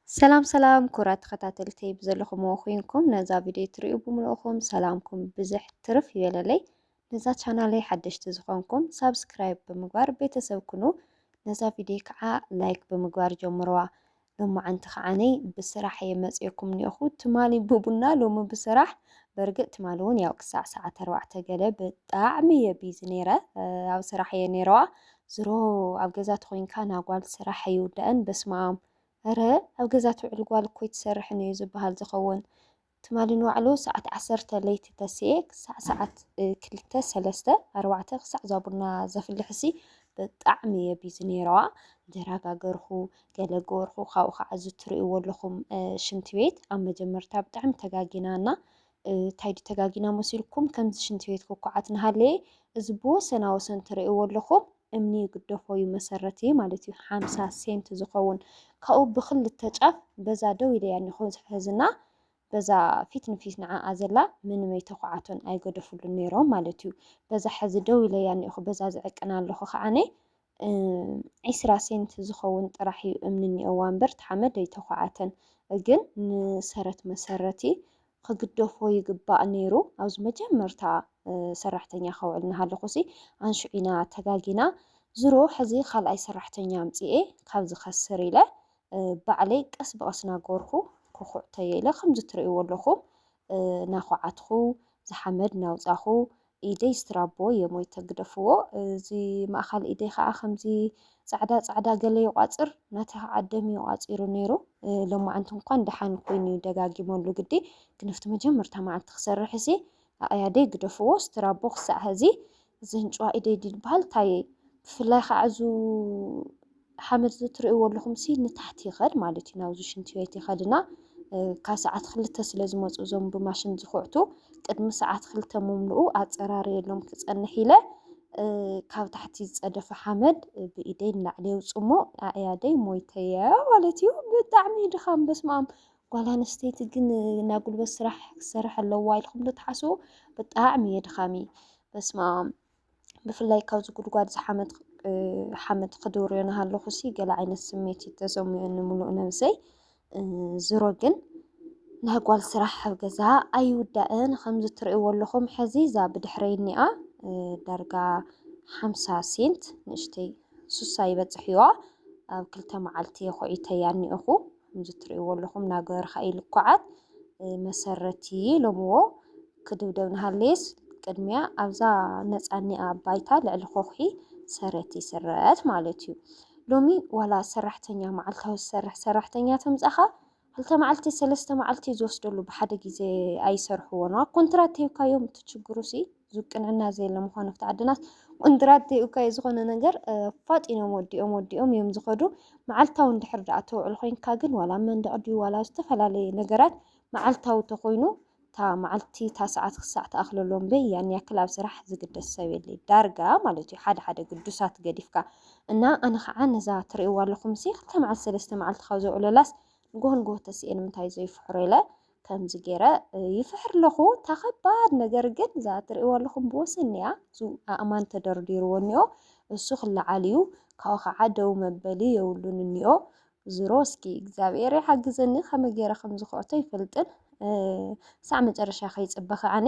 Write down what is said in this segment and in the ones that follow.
ሰላም ሰላም ኩራት ተኸታተልተይ ብዘለኹምዎ ኮይንኩም ነዛ ቪድዮ ትሪኡ ብምልእኹም ሰላምኩም ብዝሕ ትርፍ ይበለለይ። ነዛ ቻናለይ ሓደሽቲ ዝኾንኩም ሳብስክራይብ ብምግባር ቤተሰብ ኩኑ። ነዛ ቪድዮ ከዓ ላይክ ብምግባር ጀምርዋ። ሎማዓንቲ ከዓነይ ብስራሕ እየ መፅኤኩም ኒኦኹ ትማሊ ብቡና ሎሚ ብስራሕ በርግጥ ትማሊ እውን ያው ክሳዕ ሰዓት ኣርባዕተ ገለ ብጣዕሚ እየ ቢዚ ነይረ ኣብ ስራሕ እየ ነይረዋ ዝሮ ኣብ ገዛ ተኮይንካ ናጓል ስራሕ ኣይውዳእን በስማኣም እረ ኣብ ገዛ ትውዕል ጓል እኮ ኣይትሰርሕን እዩ ዝባሃል ዝከውን ትማሊ ንባዕሉ ሳዓት ዓሰርተ ለይቲ ተሲኤ ክሳዕ ሳዓት ክልተ ሰለስተ ኣርባዕተ ክሳዕ ዛቡና ዘፍልሕሲ ብጣዕሚ እየ ቢዚ ነይረዋ ደራጋገርኩ ገለ ገበርኩ ካብኡ ከዓ እዚ ትርእይዎ ኣለኹም ሽንቲ ቤት ኣብ መጀመርታ ብጣዕሚ ተጋጊና እና ታይ ድዩ ተጋጊና መሲልኩም ከምዚ ሽንቲ ቤት ኩኩዓት ናሃለየ እዚ ብወሰና ወሰን ትርእይዎ ኣለኹም እምኒ ይግደፎ ዩ መሰረት ዩ ማለት ዩ ሓምሳ ሴንቲ ዝኸውን ካብኡ ብክልተ ጫፍ በዛ ደው ኢለያ እኒኹ ሕዝና በዛ ፊት ንፊት ንዓኣ ዘላ ምንም ኣይተኩዓቶን ኣይገደፍሉን ነይሮም ማለት ዩ በዛ ሕዚ ደው ኢለያ እኒኹ በዛ ዝዕቅና ኣለኹ ከዓነ ዒስራ ሴንት ዝኸውን ጥራሕ እዩ እምኒ እኒኦዋ እምበር እቲ ሓመድ ኣይተዃዓተን። ግን ንሰረት መሰረቲ ክግደፎ ይግባእ ነይሩ። ኣብዚ መጀመርታ ሰራሕተኛ ከውዕል እናሃለኹሲ ኣንሽዑ ኢና ተጋጊና። ዝሮ ሕዚ ካልኣይ ሰራሕተኛ ኣምፂኤ ካብ ዝኸስር ኢለ ባዕለይ ቀስ ብቐስ እናገበርኩ ክኹዕተዮ ኢለ። ከምዚ እትርእይዎ ኣለኹም እናዃዓትኹ፣ እዚ ሓመድ እናውፃኹ፣ ኢደይ ስትራቦ እየ ሞይተ ግደፍዎ እዚ ማእኻል ኢደይ ኻዓ ከምዚ ፃዕዳ ፃዕዳ ገለ ይቋፅር ናተይ ኻዓ ደም እዩ ቋፂሩ ነይሩ ሎማዓንቲ እንኳን ደሓን ኮይኑ እዩ ደጋጊመሉ ግዲ ግን ኣብቲ መጀመርታ መዓልቲ ክሰርሕ እሲ ኣቅያደይ ግደፍዎ ስትራቦ ክሳዕ ሀዚ እዚ ህንጭዋ ኢደይ ድዩ ዝበሃል ታየይ ብፍላይ ኻዓ እዙ ሓመድ ዝትርእይዎ ኣለኹም ሲ ንታሕቲ ይኸድ ማለት እዩ ናብዚ ሽንቲ ቤት ይኸድና ካብ ሰዓት ክልተ ስለ ዝመፁ እዞም ብማሽን ዝኹዕቱ ቅድሚ ሰዓት ክልተ ምምልኡ ኣፀራርየሎም ክፀንሕ ኢለ ካብ ታሕቲ ዝፀደፈ ሓመድ ብኢደይ ንላዕሊ የውፅሞ ኣእያደይ ሞይተየ ማለት እዩ። ብጣዕሚ ድኻም በስማም ጓል ኣንስተይቲ ግን ናይ ጉልበት ስራሕ ክሰርሕ ኣለዋ ኢልኩም ዶ ትሓስቡ? ብጣዕሚ እየ ድኻሚ በስማም ብፍላይ ካብዚ ጉድጓድ ዝሓመት ሓመድ ክድውርዮ ናሃለኹ ሲ ገለ ዓይነት ስሜት እዩ ተሰሚዑኒ ምሉእ ነብሰይ ዝሮ ግን ናይ ጓል ስራሕ ኣብ ገዛ ኣይውዳእን ከምዚ ትርእይዎ ኣለኹም ሕዚ እዛ ብድሕረይ እኒኣ ዳርጋ ሓምሳ ሴንት ንእሽተይ ሱሳ ይበፅሕ እዩዋ ኣብ ክልተ መዓልቲ የኾዒተያ እኒኦኹ ከምዚ እትርእይዎ ኣለኹም ናገርካ እዩ ልኩዓት መሰረቲ ኢሎምዎ ክድብደብ ንሃለየስ ቅድሚያ ኣብዛ ነፃኒኣ ባይታ ልዕሊ ኮኹሒ ሰረት ይስረት ማለት እዩ ሎሚ ዋላ ሰራሕተኛ መዓልታዊ ዝሰርሕ ሰራሕተኛ ተምፃኻ ክልተ መዓልቲ ሰለስተ መዓልቲ ዝወስደሉ ብሓደ ግዜ ኣይሰርሕዎን ኮንትራት ተሂብካዮም እቲ ችግሩ ሲ ዝቅንዕና ዘየለ ምዃኑ ኣብቲ ዓድናስ ቁንድራት ዘይብካዮ ዝኾነ ነገር ፋጢኖም ወዲኦም ወዲኦም እዮም ዝኸዱ። መዓልታዊ እንድሕር ደኣ ተውዕል ኮይንካ ግን ዋላ መንደቕ ድዩ ዋላ ዝተፈላለየ ነገራት መዓልታዊ ተኾይኑ እታ መዓልቲ እታ ሰዓት ክሳዕ ተኣኽለሎ እምበይ ያን ያክል ኣብ ስራሕ ዝግደስ ሰብ የለይ ዳርጋ ማለት እዩ ሓደ ሓደ ግዱሳት ገዲፍካ እና ኣነ ከዓ ነዛ ትርእይዋ ኣለኹም ሲ ክልተ መዓልቲ ሰለስተ መዓልቲ ካብ ዘውዕለላስ ንጎሆ ንጎሆ ተስኤ ንምንታይ ዘይፍሕሮ ኢለ ከምዚ ገይረ ይፍሕር ኣለኹ እታ ከባድ ነገር ግን እዛ እትርእይዎ ኣለኹም ብወሰን እያ እሱ ኣእማን ተደርዲርዎ እኒኦ እሱ ክለዓል እዩ ካብኡ ከዓ ደው መበሊ የብሉን እኒኦ ዝሮ እስኪ እግዚኣብሔር ይሓግዘኒ ከመይ ገይረ ከም ዝኮዕቶ ይፈልጥን ሳዕ መጨረሻ ከይፅበኸ ኣነ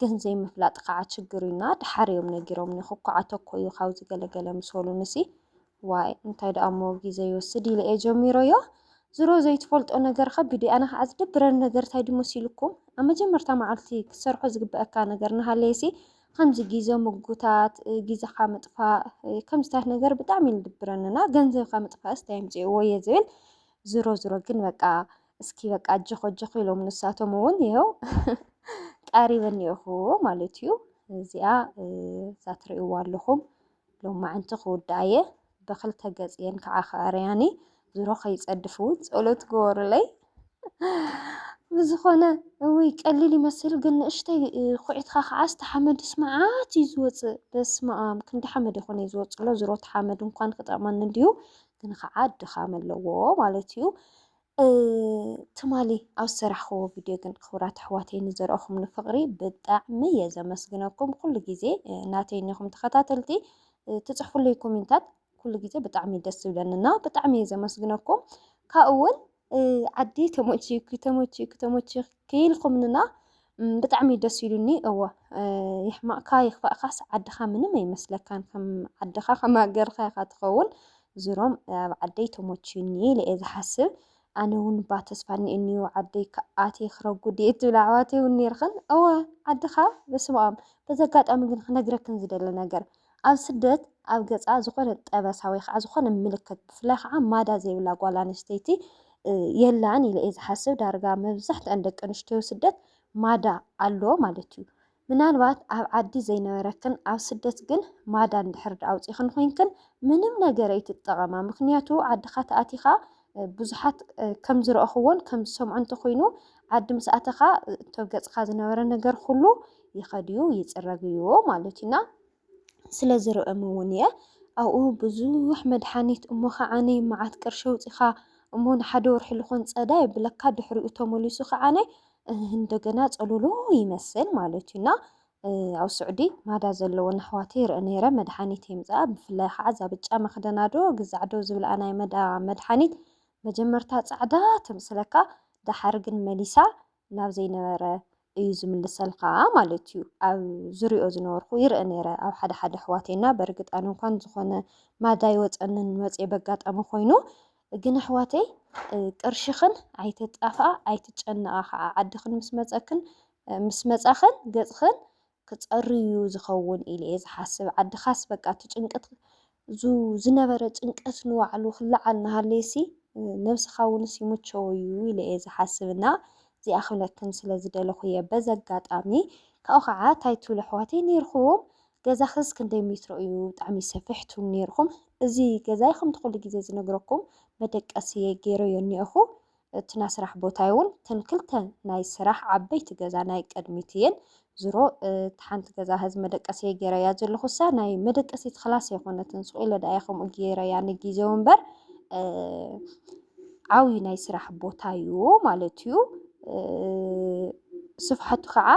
ግን ዘይምፍላጥ ካዓ ችግር እዩ እና ዳሓር እዮም ነጊሮምኒ ክኳዓቶ እኮ እዩ ካብዚ ገለ ገለ ምስ በሉኒ ሲ ዋይ እንታይ ዳኣ እሞ ጊዘ ይወስድ ኢለ እየ ጀሚረዮ ዝሮ ዘይትፈልጦ ነገር ከ ብዲ ኣነ ካዓ ዝደብረኒ ነገር እንታይ ድዩ መሲሉኩም ኣብ መጀመርታ ማዓልቲ ክትሰርሖ ዝግበኣካ ነገር ናሃለየ ሲ ከምዚ ጊዘ ምጉታት ጊዘካ ምጥፋእ ከምዚታት ነገር ብጣዕሚ እዩ ዝድብረኒ እና ገንዘብካ ምጥፋእስ እንታይ ኣምፂእዎ እየ ዝብል ዝሮ ዝሮ ግን በቃ እስኪ በቃ ኣጀኹ ኣጀኹ ኢሎም ንሳቶም እውን ይኸው ቀሪበን እኒኦኹ ማለት እዩ። እዚኣ እዛ ትርእይዋ ኣለኹም ሎማዕንቲ ክውድኣ እየ ብክልተ ገፅ እየን ከዓ ከኣርያኒ ዝሮ ከይፀድፍ እውን ፀሎት ግበሩለይ። ብዝኾነ እውይ ቀሊል ይመስል ግን ንእሽተይ ኩዒትካ ከዓ ስቲ ሓመድ ስማዓት እዩ ዝወፅእ። በስመ ኣም ክንዲ ሓመድ ይኾነ እዩ ዝወፅእ ኣሎ ዝሮ እቲ ሓመድ እንኳን ክጠቕመኒ እንድዩ ግን ከዓ ድኻም ኣለዎ ማለት እዩ። ትማሊ ኣብ ዝሰራሕክዎ ቪድዮ ግን ክብራት ኣሕዋተይ ንዘርኦኹምኒ ፍቕሪ ብጣዕሚ እየ ዘመስግነኩም። ኩሉ ግዜ ናተይ እኒኹም ተኸታተልቲ ትፅሕፉለይ ኮሜንታት ኩሉ ግዜ ብጣዕሚ ደስ ዝብለኒ እና ብጣዕሚ እየ ዘመስግነኩም ካብኡ እውን ዓዲ ተመችዩኪ ተመችዩኪ ተመችዩኪ ክኢልኩምንና ብጣዕሚ እዩ ደስ ኢሉኒ እወ ይሕማቅካ ይክፋእካስ ዓድካ ምንም ኣይመስለካን ከም ዓድካ ከም ሃገርካ ኢካ ትከውን ዝሮም ኣብ ዓደይ ተሞችዩኒ ኢለ እየ ዝሓስብ ኣነ እውን ባ ተስፋ እኒኤኒ ዓደይ ኣትየ ክረጉድ እየ ትብል ኣሕዋተይ እውን ነይርክን እወ ዓድካ በስመኣም በዚ ኣጋጣሚ ግን ክነግረክን ዝደለ ነገር ኣብ ስደት ኣብ ገጻ ዝኾነ ጠበሳ ወይ ኸዓ ዝኾነ ምልክት ብፍላይ ኸዓ ማዳ ዘይብላ ጓል ኣንስተይቲ የላን ኢለ እየ ዝሓስብ። ዳርጋ መብዛሕትኣን ደቂ ኣንስትዮ ስደት ማዳ ኣሎ ማለት እዩ። ምናልባት ኣብ ዓዲ ዘይነበረክን ኣብ ስደት ግን ማዳ እንድሕር ኣውፂኽን ኮይንክን ምንም ነገር ኣይትጠቐማ። ምክንያቱ ዓድኻ ተኣቲኻ ብዙሓት ከም ዝረኣኹዎን ከም ዝሰምዑ እንተኾይኑ ዓዲ ምስ ኣተኻ እቶ ገጽካ ዝነበረ ነገር ኩሉ ይኸድዩ ይጽረግዩ ማለትዩና ስለ ዝርእም እውን እየ ኣብኡ ብዙሕ መድሓኒት እሞ ከዓኒ መዓት ቅርሺ ኣውጺኻ እሞ ንሓደ ወርሒ ዝኾን ጸዳ የብለካ ድሕሪኡ ተመሊሱ ከዓኒ እንደገና ጸሎሎ ይመስል ማለትዩና ኣብ ሱዕዲ ማዳ ዘለወን ኣሕዋተይ ይርእ ነይረ መድሓኒት የምጽኣ ብፍላይ ኻዓ እዛ ብጫ መኽደና ዶ ግዛዕ ዶ ዝብልኣ ናይ መዳ መድሓኒት መጀመርታ ጻዕዳ ተምስለካ ዳሓር ግን መሊሳ ናብ ዘይነበረ እዩ ዝምልሰልኻ ማለት እዩ ኣብ ዝሪኦ ዝነበርኩ ይርእ ነይረ ኣብ ሓደ ሓደ ኣሕዋተይና በርግጥ ኣነ እንኳን ዝኾነ ማዳ ይወጸንን መጽኤ በጋጣሚ ኮይኑ ግን ኣሕዋተይ ቅርሽኽን ኣይትጣፍኣ ኣይትጨነቓ ኻዓ ዓድኽን ምስ መጸክን ምስ መጻኽን ገጽኽን ክጸሪ ዩ ዝኸውን ኢለ እየ ዝሓስብ ዓድኻስ በቃ እቲ ጭንቅት እዙ ዝነበረ ጭንቀት ንባዕሉ ክለዓል ናሃለየሲ ነብስኻ ውንስ ይምቸዎ ዩ ኢለ እየ ዝሓስብ እና እዚኣ ክብለክን ስለ ዝደለኹ እየ በዚ ኣጋጣሚ ካብኡ ከዓ እንታይ ትብሉ ኣሕዋተይ ነይርኹም ገዛኽስ ክንደይ ሜትሮ እዩ ብጣዕሚ ሰፊሕ ትብሉ ነይርኹም እዚ ገዛይ ከምቲ ኩሉ ግዜ ዝነግረኩም መደቀሲ ገይረዮ እኒኦኹ እቲ ናይ ስራሕ ቦታይ ውን እተን ክልተ ናይ ስራሕ ዓበይቲ ገዛ ናይ ቅድሚት እየን ዝሮ እቲ ሓንቲ ገዛ ህዚ መደቀሲ እየ ገይረያ ዘለኹ እሳ ናይ መደቀሲት ክላስ ኣይኮነትን ሱቅ ኢለ ደኣ ከምኡ ገይረያ ንግዜኡ እምበር ዓብይ ናይ ስራሕ ቦታ እዩ ማለት እዩ። ስፍሓቱ ከዓ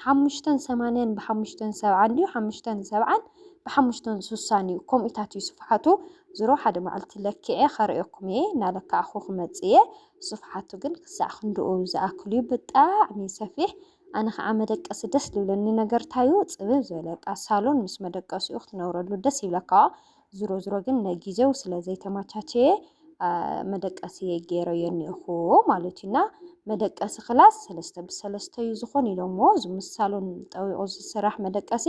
ሓሙሽተን ሰማንያን ብሓሙሽተን ሰብዓን ድዩ ሓሙሽተን ሰብዓን ብሓሙሽተን ስሳን እዩ ከምኡታት እዩ ስፍሓቱ ዝሮ ሓደ መዓልቲ ለክዐ ኸርእየኩም እየ እናለካዕኹ ክመፅእ እየ ስፍሓቱ ግን ክሳዕ ክንድኡ ዝኣክል እዩ ብጣዕሚ ሰፊሕ ኣነ ከዓ መደቀሲ ደስ ዝብለኒ ነገርታዩ ፅብብ ዝበለቃ ሳሎን ምስ መደቀሲኡ ክትነብረሉ ደስ ይብለካ ዝሮ ዝሮ ግን ነጊዜው ስለ ዘይተማቻቸየ መደቀሲ ገይረዮ እኒኦኹ ማለት እዩና መደቀሲ ክላስ ሰለስተ ብሰለስተ እዩ ዝኾን ኢሎሞ እዚ ምሳሉን ጠዊቑ ዝስራሕ መደቀሲ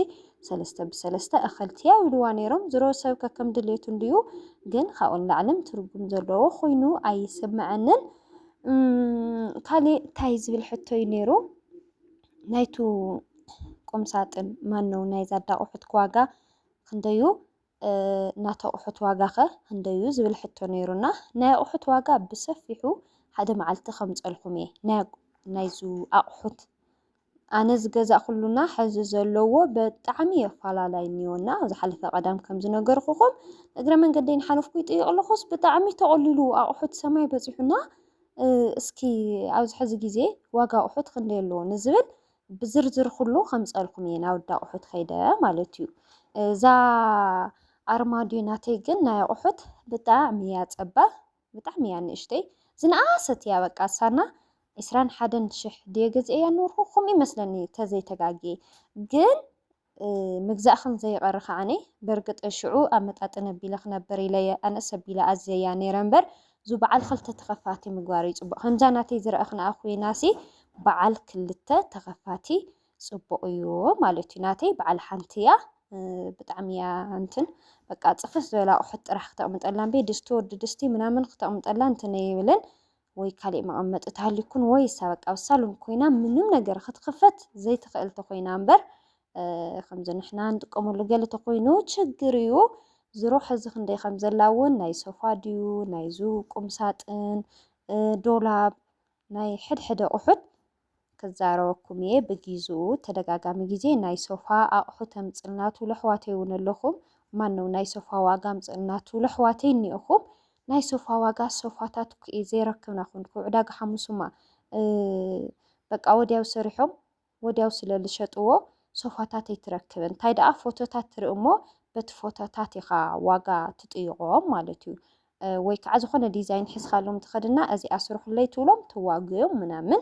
ሰለስተ ብሰለስተ እኸልቲያ ኢልዋ ነይሮም ዝሮ ሰብ ከከም ድሌቱ እንድዩ ግን ካብኡ ንላዕልን ትርጉም ዘለዎ ኮይኑ ኣይስምዐንን ካሊእ እንታይ ዝብል ሕቶ እዩ ነይሩ ናይቱ ቁምሳጥን ማነው ናይ ዛዳቑሑት ዋጋ ክንደዩ ናት ኣቑሑት ዋጋኸ ህንደዩ ዝብል ሕቶ ነይሩና ናይ ኣቑሑት ዋጋ ብሰፊሑ ሓደ መዓልቲ ከምፀልኩም እየ ናይዙ ኣቑሑት ኣነ ዝገዛእ ኩሉና ሕዚ ዘለዎ በጣዕሚ የፋላላይ እኒኦና ዝሓለፈ ቀዳም ከም ዝነገርኩኹም እግረ መንገደይን ሓለፍኩ ይጥይቕ ኣለኹስ ብጣዕሚ ተቐሊሉ ኣቑሑት ሰማይ በፂሑና እስኪ ኣብዚ ሕዚ ግዜ ዋጋ ኣቑሑት ክንደይ ኣለዎ ንዝብል ብዝርዝር ኩሉ ከምፀልኩም እየ ናውዲ ኣቑሑት ከይደ ማለት እዩ እዛ ኣርማድዮ ናተይ ግን ናይ ኣቑሑት ብጣዕሚ እያ ፀባ ብጣዕሚ እያ ንእሽተይ ዝነኣሰት እያ በቃ ሳና ዕስራን ሓደን ሽሕ ድየ ገዚኤያ ኖርኩ ከምኡ ይመስለኒ ተዘይተጋጌ ግን ምግዛእክን ዘይቐሪ ከኣ በርግጥ ሽዑ ኣመጣጥን ኣቢለ ክነብር ኢለ'የ ኣነስ ኣቢለ ኣዝየያ ነይረ እምበር እዙ በዓል ኽልተ ተኸፋቲ ምግባር እዩ ፅቡቕ ከምዛ ናተይ ዝረኣኽንኣ ኮይናሲ በዓል ክልተ ተኸፋቲ ፅቡቕ እዩ ማለት እዩ ናተይ በዓል ሓንቲ እያ ብጣዕሚ እያ እንትን በቃ ፅፍፍ ዝበለ ኣቑሑት ጥራሕ ክተቕምጠላን ቤ ድስቲ ወዲ ድስቲ ምናምን ክተቕምጠላን እንትን ኣይብልን ወይ ካሊእ መቐመጢ ተሃልዩኩን ወይስ ኣብ ኣቃብ ሳሎን ኮይና ምንም ነገር ክትኽፈት ዘይትኽእል ተኾይና እምበር ከምዚ ንሕና ንጥቀመሉ ገለ ተኾይኑ ችግር እዩ። ዝሮ ሕዚ ክንደይ ከም ዘላ እውን ናይ ሶፋ ድዩ ናይዙ ቁምሳጥን ዶላብ ናይ ሕድሕደ ኣቑሑት ክዛረበኩም እየ ብጊዝኡ ተደጋጋሚ ግዜ ናይ ሶፋ ኣቅሑ ተምጽልና ትብሉ ኣሕዋተይ ውን ኣለኹም ማነው ናይ ሶፋ ዋጋ ኣምጽልና ትብሉ ኣሕዋተይ እኒኦኹም ናይ ሶፋ ዋጋ ሶፋታት ኩኢ ዘይረክብና ኩንኩ ዕዳጋ ሓሙሱማ በቃ ወዲያው ሰሪሖም ወዲያው ስለ ዝሸጥዎ ሶፋታት ኣይትረክብን እንታይ ደኣ ፎቶታት ትርኢ እሞ በቲ ፎቶታት ኢኻ ዋጋ ትጥይቆም ማለት እዩ ወይ ከዓ ዝኾነ ዲዛይን ሒዝኻሎም ትኸድና እዚኣ ስርሑለይ ትብሎም ተዋግዮም ምናምን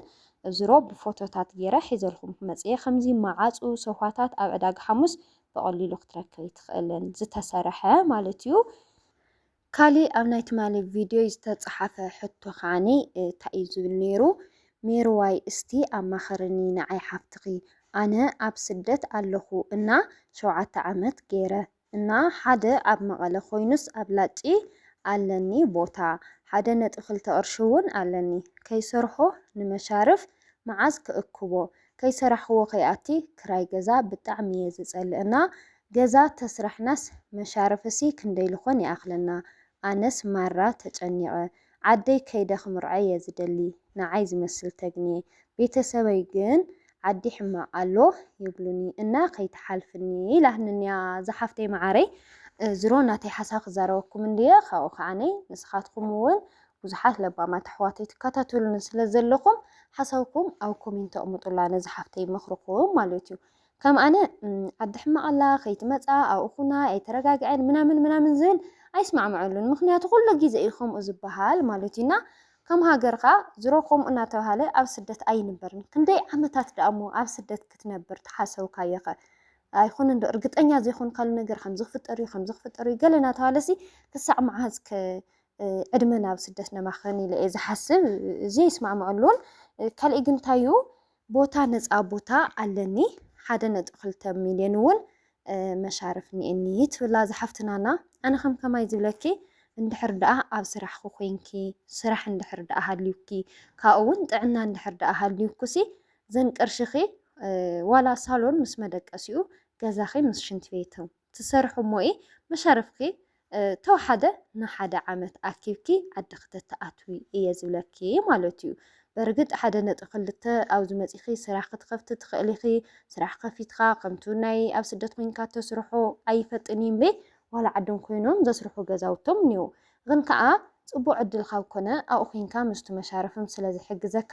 ዝሮ ብፎቶታት ጌረ ሒዘልኩም ክመፅየ ከምዚ መዓፁ ሶፋታት ኣብ ዕዳጋ ሓሙስ ብቐሊሉ ክትረክብ ትኽእልን ዝተሰርሐ ማለት እዩ። ካሊእ ኣብ ናይ ትማሊ ቪድዮይ ዝተፀሓፈ ሕቶ ከዓኒ እንታይ እዩ ዝብል ነይሩ ሜርዋይ እስቲ ኣማኸርኒ ንዓይ ሓፍትኺ ኣነ ኣብ ስደት ኣለኹ እና ሸውዓተ ዓመት ገይረ እና ሓደ ኣብ መቐለ ኮይኑስ ኣብ ላጪ ኣለኒ ቦታ ሓደ ነጥቢ ክልተ ቅርሺ ውን ኣለኒ ከይሰርሖ ንመሻርፍ መዓዝ ክእክቦ ከይሰራሕክዎ ከይኣቲ ክራይ ገዛ ብጣዕሚ እየ ዝፀልእ እና ገዛ ተስራሕናስ መሻርፍሲ ክንደይ ልኾን ይኣኽለና ኣነስ ማራ ተጨኒቐ ዓደይ ከይደ ክምርዖ እየ ዝደሊ ንዓይ ዝመስል ተግንየ ቤተሰበይ ግን ዓዲ ሕማቅ ኣሎ ይብሉኒ እና ከይትሓልፍኒ ኢላትኒ እያ ዝሓፍተይ መዓረይ ዝሮ ናተይ ሓሳብ ክዛረበኩም እንድየ ካብኡ ከዓነይ ንስኻትኩም እውን ብዙሓት ለባማት ኣሕዋተይ ትከታተሉኒ ስለ ዘለኹም ሓሳብኩም ኣብ ኮሜንት ኣቕምጡላ ነዚ ሓፍተይ መኽርኩም ማለት እዩ ከም ኣነ ዓዲ ሕማቅ ኣላ ከይትመጻ ኣብኡ ኩና ኣይተረጋግዐን ምናምን ምናምን ዝብል ኣይስማዕመዐሉን ምክንያቱ ኩሉ ግዜ እዩ ከምኡ ዝበሃል ማለት እዩ እና ከም ሃገር ከኣ ዝሮ ከምኡ እናተባሃለ ኣብ ስደት ኣይንበርን ክንደይ ዓመታት ደኣ እሞ ኣብ ስደት ክትነብር ተሓሰብካዮ ከ ኣይኮነ እንዶ እርግጠኛ ዘይኮንካሉ ነገር ከምዚ ክፍጠር እዩ ከምዚ ክፍጠር እዩ ገለ እናተባሃለሲ ክሳዕ መዓዝ ከ ዕድመና ኣብ ስደት ነማኸን ኢለ እየ ዝሓስብ እዚ ይስማዕመዐሉን ካልእ ግን እንታይ እዩ ቦታ ነጻ ቦታ ኣለኒ ሓደ ነጥቢ ክልተ ሚልዮን እውን መሻርፍ እኒኤኒ ትብላ እዛ ሓፍትና እና ኣነ ከም ከማይ ዝብለኪ እንድሕር ደኣ ኣብ ስራሕኪ ኮንኪ ስራሕ እንድሕር ደኣ ሃልዩኪ ካብኡ እውን ጥዕና እንድሕር ደኣ ሃልዩኩሲ ዘን ቅርሽኺ ዋላ ሳሎን ምስ መደቀሲኡ ገዛኺ ምስ ሽንቲ ቤቱ ትሰርሒ እሞ እዪ መሻርፍኪ ተውሓደ ንሓደ ዓመት ኣኪብኪ ዓዲ ክተተኣትዊ እየ ዝብለኪ ማለት እዩ በርግጥ ሓደ ነጥቢ ክልተ ኣብዚ መጺኪ ስራሕ ክትከፍቲ ትክእሊ ኢኪ ስራሕ ከፊትካ ከምቱ ናይ ኣብ ስደት ኮይንካ ተስርሖ ኣይፈጥን እዩ እምበይ ዋላ ዓዶም ኮይኖም ዘስርሑ ገዛውቶም እኒዉ ግን ከኣ ጽቡቅ ዕድል ካብ ኮነ ኣብኡ ኮይንካ ምስቱ መሻርፍም ስለ ዝሕግዘካ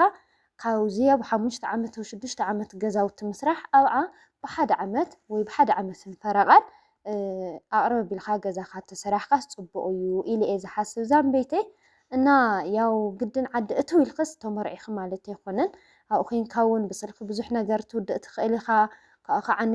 ካብዚ ኣብ ሓሙሽተ ዓመት ወይ ሽዱሽተ ዓመት ገዛውቲ ምስራሕ ኣብዓ ብሓደ ዓመት ወይ ብሓደ ዓመትን ፈረቓን ኣቕርብ ኣቢልካ ገዛኻ ተሰራሕካስ ፅቡቕ እዩ ኢለ እየ ዝሓስብ ዛንበይተይ እና ያው ግድን ዓዲ እትው ኢልክስ ተመርዒኺ ማለት ኣይኮነን ኣብኡ ኮንካ እውን ብስልኪ ብዙሕ ነገር ትውድእ ትኽእል ኢኻ ካብኡ ከዓኒ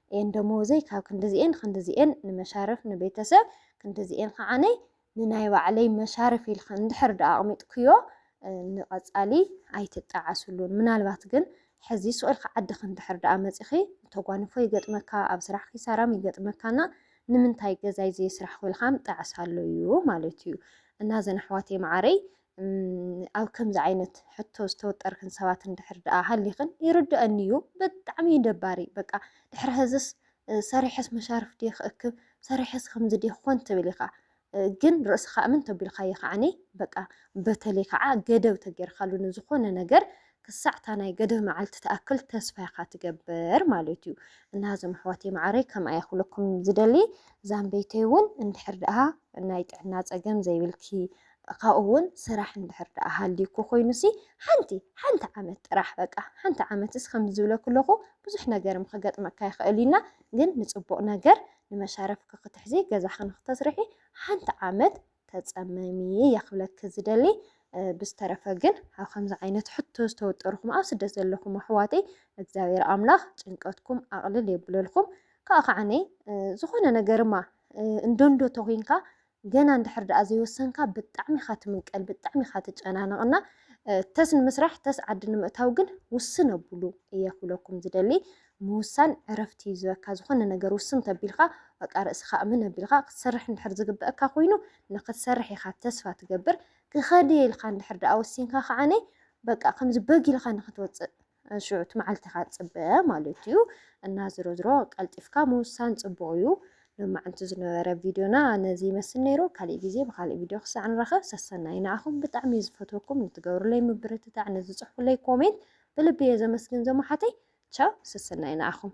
እየን ደሞወዘይ ካብ ክንድዚኤን ኽንድዚኤን ንመሻርፍ ንቤተሰብ ክንድዚኤን ኸዓ ንናይ ባዕለይ መሻርፍ ኢልኺ እንድሕር ድኣ ኣቕሚጥክዮ ንቐፃሊ ኣይትጠዓስሉን ምናልባት ግን ሕዚ ሱቕ ኢልኪ ዓድኺ እንድሕር ድኣ መፂኺ ተጓንፎ ይገጥመካ ኣብ ስራሕ ኪሳራም ይገጥመካና ንምንታይ ገዛይ ዘይስራሕኹ ኢልኻም ጠዕሳሉ እዩ ማለት እዩ እና ዘን ኣሕዋተይ መዓረይ ኣብ ከምዚ ዓይነት ሕቶ ዝተወጠርክን ሰባት እንድሕር ደኣ ሃሊኽን ይርድኣኒ እዩ። ብጣዕሚ እዩ ደባሪ በቃ ድሕሪ ሕዝስ ሰሪሐስ መሻርፍ ድየ ክእክብ ሰሪሐስ ከምዚ ድየ ክኾን ትብል ኢኻ ግን ርእስኻ እምን ተቢልካዮ ከዓኒ በቃ በተለይ ከዓ ገደብ ተገይርካሉ ንዝኾነ ነገር ክሳዕ እታ ናይ ገደብ መዓልቲ ትኣክል ተስፋ ኢኻ ትገብር ማለት እዩ እና እዞም ኣሕዋተይ መዓረይ ከምኣ እየ ክብለኩም ዝደሊ ዛምበይተይ እውን እንድሕር ደኣ ናይ ጥዕና ፀገም ዘይብልኪ ካብኡ እውን ስራሕ እንድሕር ደኣ ሃልዩኩ ኮይኑሲ ሓንቲ ሓንቲ ዓመት ጥራሕ በቃ ሓንቲ ዓመትስ ከምዚ ዝብለኩ ኣለኹ ብዙሕ ነገር ክገጥመካ ይኽእል እዩና ግን ንፅቡቕ ነገር ንመሻረፍኪ ክትሕዚ ገዛኺ ንክተስርሒ ሓንቲ ዓመት ተፀመሚ እየ ክብለኪ ዝደሊ ብዝተረፈ ግን ኣብ ከምዚ ዓይነት ሕቶ ዝተወጠርኹም ኣብ ስደት ዘለኹም ኣሕዋተይ እግዚኣብሔር ኣምላኽ ጭንቀትኩም ኣቕልል የብለልኩም ከዓ ከዓነይ ዝኾነ ነገርማ እንዶንዶ ተኮይንካ ገና እንድሕር ድኣ ዘይወሰንካ ብጣዕሚ ኢኻ ትምንቀል ብጣዕሚ ኢኻ ትጨናነቕ እና ተስ ንምስራሕ ተስ ዓዲ ንምእታው ግን ውስን ኣብሉ እየ ክብለኩም ዝደሊ ምውሳን ዕረፍቲ እዩ ዝበካ ዝኾነ ነገር ውስን ተቢልካ በቃ ርእስኻ እምን ኣቢልካ ክትሰርሕ እንድሕር ዝግበአካ ኮይኑ ንክትሰርሕ ኢኻ ተስፋ ትገብር ክኸዲ ኢልካ እንድሕር ድኣ ወሲንካ ከዓነይ በቃ ከምዚ በግ ኢልካ ንክትወፅእ ሽዑ እቲ መዓልቲ ኢኻ ትፅበ ማለት እዩ እና ዝሮ ዝሮ ቀልጢፍካ ምውሳን ፅቡቕ እዩ ሎማዕንቲ ዝነበረ ቪድዮና ነዚ ይመስል ነይሩ ካሊእ ግዜ ብካሊእ ቪድዮ ክሳዕ ንረኸብ ሰሰናይ ንዓኹም ብጣዕሚ እዩ ዝፈትወኩም ንትገብሩለይ ምብርትታዕ ንዝፅሕፉለይ ኮሜንት ብልቢ እየ ዘመስግን ዘመሓተይ ቻው ሰሰናይ ንዓኹም